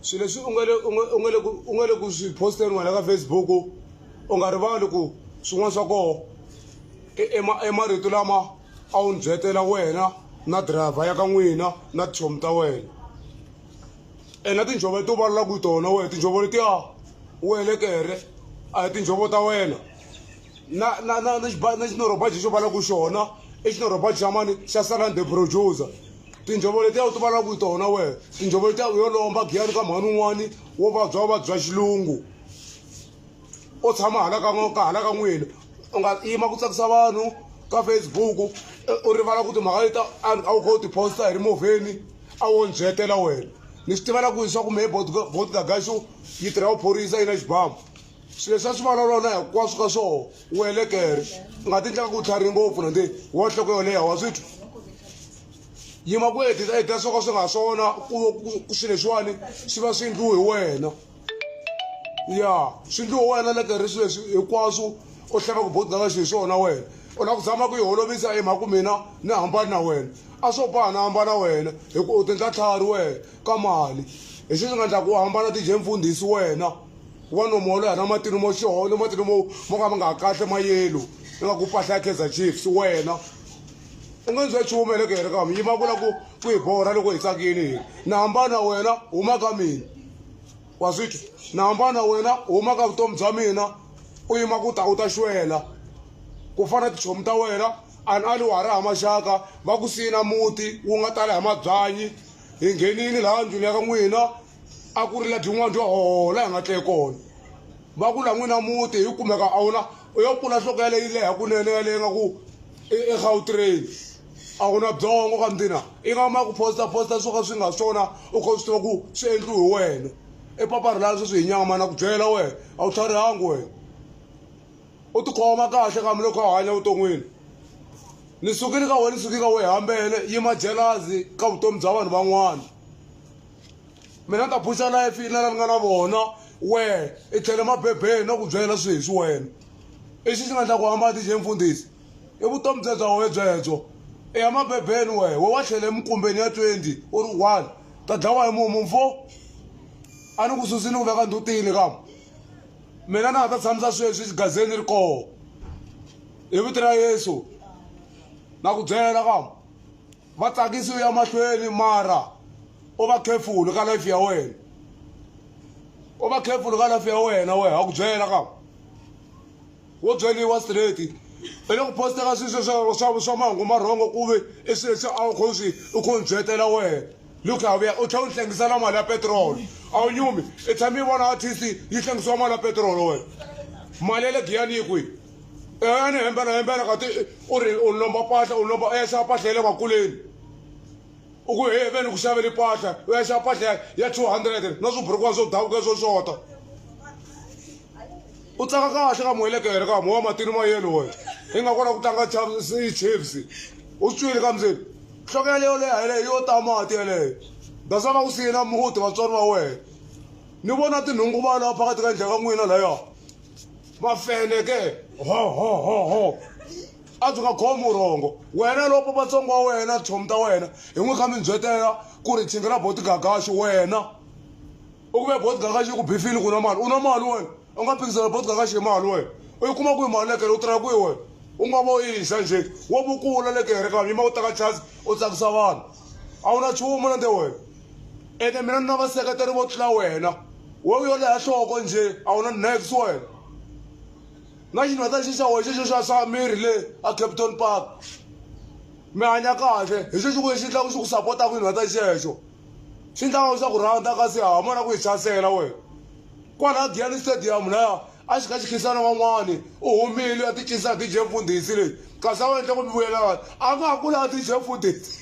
swilo leswi u nga le u nga u nga le ku u nga le ku swi posteni wena ka facebook u nga rivali ku swin'wana swa koho i marito lama a wu ni byetela wena na driver ya ka n'wina na tichomi ta wena ena tinjhovo leti u vulavulaka hi tona wena tinjhovo letiya welekere a hi tinjhovo ta wena na na na na na xinorhobaji xo vulavulaka xona i xinorhobaji xa mani xa salande producer tinjhovo letiya u ti valaka hi tona wena tinjhovo letiya u yo lomba giyani ka mhani un'wani wo vabya u vabya xilungu u tshama hala ka ka hala ka n'wina u nga yima ku tsakisa vanhu ka facebook u rivala ku timhaka leti a wu kha u tiposta hi ri movheni a wo ndzi hetela wena ni swi tivela ku leswaku mehe botgagaxo yi tirha vuphorisa yi na xibamu swilo leswi a swi vulavula na hinkwaswo ka swona wu helekere u nga ti ndlaka ku tlhari ngopfu nandze wo nhloko yo leha wa swi twa yima ku hetisa hetisa swo ka swi nga swona ku swi leswiwani swi va swi endliwe hi wena ya swi endliwe wena le karhi swi leswi hinkwaswo u hlava ku bodo ka xi hi swona wena u lava ku zama ku yi holovisa hi mhaka ku mina ni hambani na wena a swo boha na hambana wena hikuva u tindla tlhari wena ka mali hi xi swi nga endlaka u hambana ti-jempfundhisi wena wa nomo wa loya na matino mo xoho ni matino mo mo ka ma nga kahle mayelo i nga ku pahla ya kaizer chiefs wena u nge ndzwe chumu ene kere ka mi yima ku la ku ku hi borha loko hi tsakini hina ni hambana wena huma ka mina wa swi twa ni hambana wena huma ka vutomi bya mina u yima ku ta u ta xwela ku fana tichomi ta wena ani ali wa ha ri ha maxaka va ku siyina muti wu nga tala hi mabyanyi hi nghenini laha ndlwini ya ka n'wina a ku ri la dyn'wana dyo hola hi nga tle kona va ku la n'wina muti hi kumeka a wona u yo pfula nhloko yaleyi leha kunene yaleyi nga ku egautrain a wu na byongo ka mdina i nga ma ku posta posta swo ka swi nga swona u kha u swi tiva ku swi endliwi hi wena i papa ri lava sweswi hi nyama na ku byela wena a wu tlharihangi wena u tikhoma kahle kambe loko a hanya vuton'wini ni sukile ka wena ni suke ka wehe hambele yima jalazi ka vutomi bya vanhu van'wana mina ni ta buxa life yi na lani nga na vona wehe i tlhele mabebeni no ku byela swi hi swi wena i xi xi nga ndla ku hamba ti xi mfundhisi i vutomi bye bya wehe byebyo i ya mabebeni wehe we wa tlhele emukumbeni ya twenty u ri one ta dlawa hi mumu mfo a ni ku susini ku veka ndhutini kama mina na nga ta tshamisa sweswi xigazeni ri koho hi vito ra yesu na ku byela kama Va tsakisi u ya mahlweni mara u va careful ka life ya wena. U va careful ka life ya wena wehe ha ku byela ka wo byeliwa straight i le ku posteka swilo swa swa swa mahungu ma rhongo ku ve i swilo leswi a wu kho swi u kho ni byetela wena look a vuya u tlhela u ni hlengisela mali ya petiroli a wu nyumi i tshame i vona artist yi hlengisiwa mali ya petiroli wena mali ya le giyani yi kwihi ene hembela hembela kati u ri u lomba pahla u lomba u ya xava pahla ya le vakuleni u ku he ve ni ku xaveli pahla u ya xava pahla ya two hundred na swiburukwani swo davuka swo xota u tsaka kahle ka muhelekere ka mowa matini ma yelo wena i nga kona ku tlanga chiefs u swi twile ka muzeni nhloko yaleyo leha yeleyo yo ta mati yeleyo dasana ku siyena muti vatswari va wena ni vona tinhungu va laha phakathi ka ndlha ka n'wina layo mafele ke hohohoho a byi nga khomi urhongo wena loko vatsongo wa wena tshomi ta wena hi n'wi kha mindzhwetela ku ri tshinga ra boti gagaxi wena u kume boti gagaxi ku bifile ku na mali u na mali wena u nga phikizela boti gagaxi hi mali wena u yi kuma ku yi mali lekele u tirha kwihi wena u nga vo yisa njhe wo vukula lekere kambe yima u teka chance u tsakisa vanhu a wu na chumu na nde wena ene mina ni na vaseketeri vo tlula wena we u yo leha nhloko njhe a wu na next wena na xinhweta xi xa wexe xo xa xa miri le a capton park mi hanya kahle hi xo xi ku xi endlaku xi ku sapotaka xinhweta xexo xi endlaka xa ku rhandza kasi ha mona ku yi hlasela wena kwala giyani stadium laya A xi ka xikhensani wan'wana u humile a ti cinisa hi DJ Mfundhisi leyi kasi a wu endla ku mi vuyelana a nga ha kula DJ Mfundhisi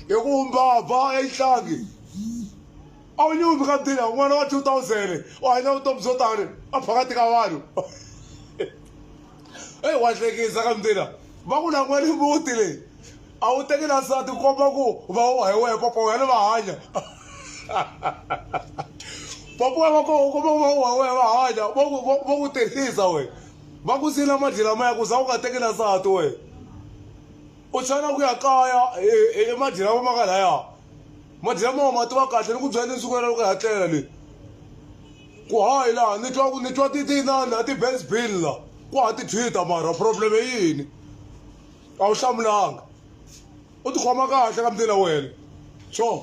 hi ku mbabha exihlangi a wu nyumi ka ndila n'wana wa 2000 u hanya vutomi byo tani a phakathi ka vanhu eyi wa hlekisa ka mina va ku lan'wani muti leyi a wu teki na nsati komba ku va wa hi wehe papa wena va hanya papa wena va komba ku va wa hi wehe va hanya va ku va ku tirhisa wena va ku siyela madli lamaya ku za u nga teki na nsati wena u chava ku ya kaya hi madli lama ma nga laya madli lama wa ma tiva kahle ni ku byela ni siku ra loko hi ya tlela le. ku haha hi laha ni twa ku ni twa ti ti inani a ti benz bill la ku ha ti thwita mara problem i yini a wu hlamulanga u tikhoma kahle ka mdina wena sure